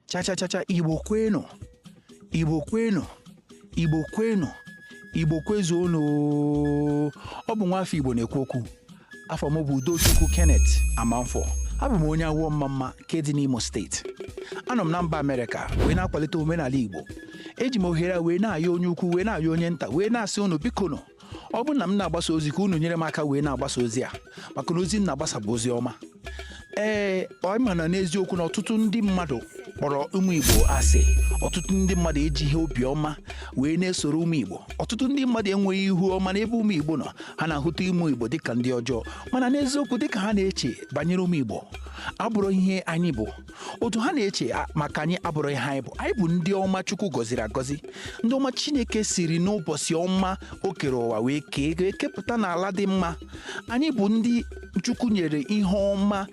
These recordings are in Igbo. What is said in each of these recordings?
chachachacha igbo kwenu igbo kwenu igbo kwenu igbo kwezuonu oo. ọ bụ nwa afọ igbo na-ekwu okwu afa m bụ udochukwu kenneth amanfọ abụ m onye awo omamma nke dị n'imo steeti anọ m na mba amerịka wee na-akwalite omenala igbo eji m ohere a wee na-ayọ onye ukwu wee na-ayọ onye nta wee na-asị unu biko nụ ọ bụrụ na m na-agbasa ozi ka unu nyere m aka wee na-agbasa ozi a maka na ozi m na-agbasa bụ ozi ọma ee ọ ma na n'eziokwu na ọtụtụ ndị mmadụ kpọrọ ụmụ igbo asị ọtụtụ ndị mmadụ ejighi obiọma wee na-esoro ụmụ igbo ọtụtụ ndị mmadụ enweghị ihu ọma n'ebe ụmụ igbo nọ ha na-ahụta ụmụ igbo dịka ndị ọjọọ mana n'eziokwu dịka ha na-eche banyere ụmụ igbo abụrọ ihe anyị bụ otu ha na-eche a- maka anyị abụrọ ihe anyị bụ anyị bụ ndị ọma chukwu gọziri agọzi ndị ọma chineke siri n'ụbọchị ọma o kere ụwa wee kee wee kepụta n'ala dị mma anyị bụ ndị chukwu nyere ihe ọma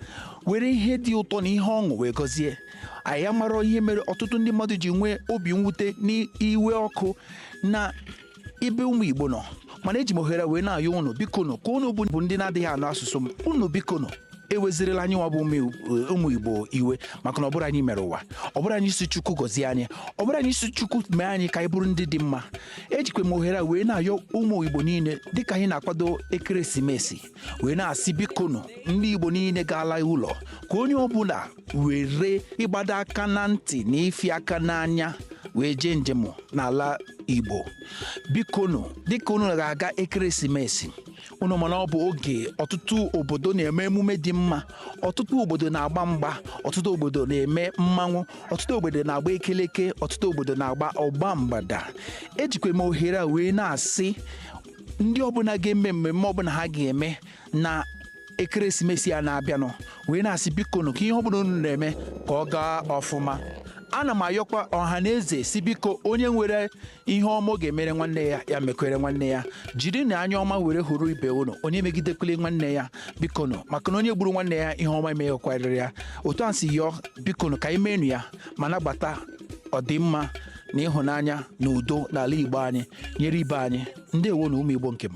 were ihe dị ụtọ na ihe ọṅụ wee gọzie anyị amarọ ihe mere ọtụtụ ndị mmadụ ji nwee obi mwute na iwe ọkụ na ebe ụmụ igbo nọ mana eji m ohere wee na-ayọ unu bikonu ka unu bụ ndị na-adịghị anụ asụsụ m unu bikonu ewezirila anyị nwa bụ ụmụ- ụmụ igbo iwe maka na ọ bụrọ anyị mere ụwa ọ bụrọ anyị sị chukwu gọzie anyị ọ bụrọ anyị sị chukwu mee anyị ka anyị bụrụ ndị dị mma ejikwa m ohere a wee na-ayọ ụmụ igbo niile dịka anyị na-akwado ekeresimesi wee na-asị bikonu ndị igbo niile ga-ala ụlọ ka onye ọbụla were ịgbado aka na ntị na ifi aka n'anya wee jee njem n'ala igbo bikonu dịka unu ga-aga ekeresimesi unu ma na ọ bụ oge ọtụtụ obodo na-eme emume dị mma ọtụtụ obodo na-agba mgba ọtụtụ obodo na-eme mmanwụ ọtụtụ obodo na-agba ekeleke ọtụtụ obodo na-agba ọgba mgbada ejikwa m ohere a wee na-asị ndị ọbụla ga-eme mmemme ọbụla ha ga-eme na ekeresimesi a na-abịanụ wee na-asị bikonu ka ihe ọ bụla unu na-eme ka ọ gaa ọfụma ana m ayọkwa ọha na eze sị biko onye nwere ihe ọma ọ ga-emere nwanne ya ya mekwere nwanne ya jirinụ anya ọma were hụrụ ibe unu onye emegidekwele nwanne ya bikonu maka na onye gburu nwanne ya ihe ọma emeghịkwara ya otu a si yọọ bikonu ka anyị meenụ ya ma nabata ọdịmma na ịhụnanya na udo n'ala igbo anyị nyere ibe anyị ndewonụ ụmụ igbo nke m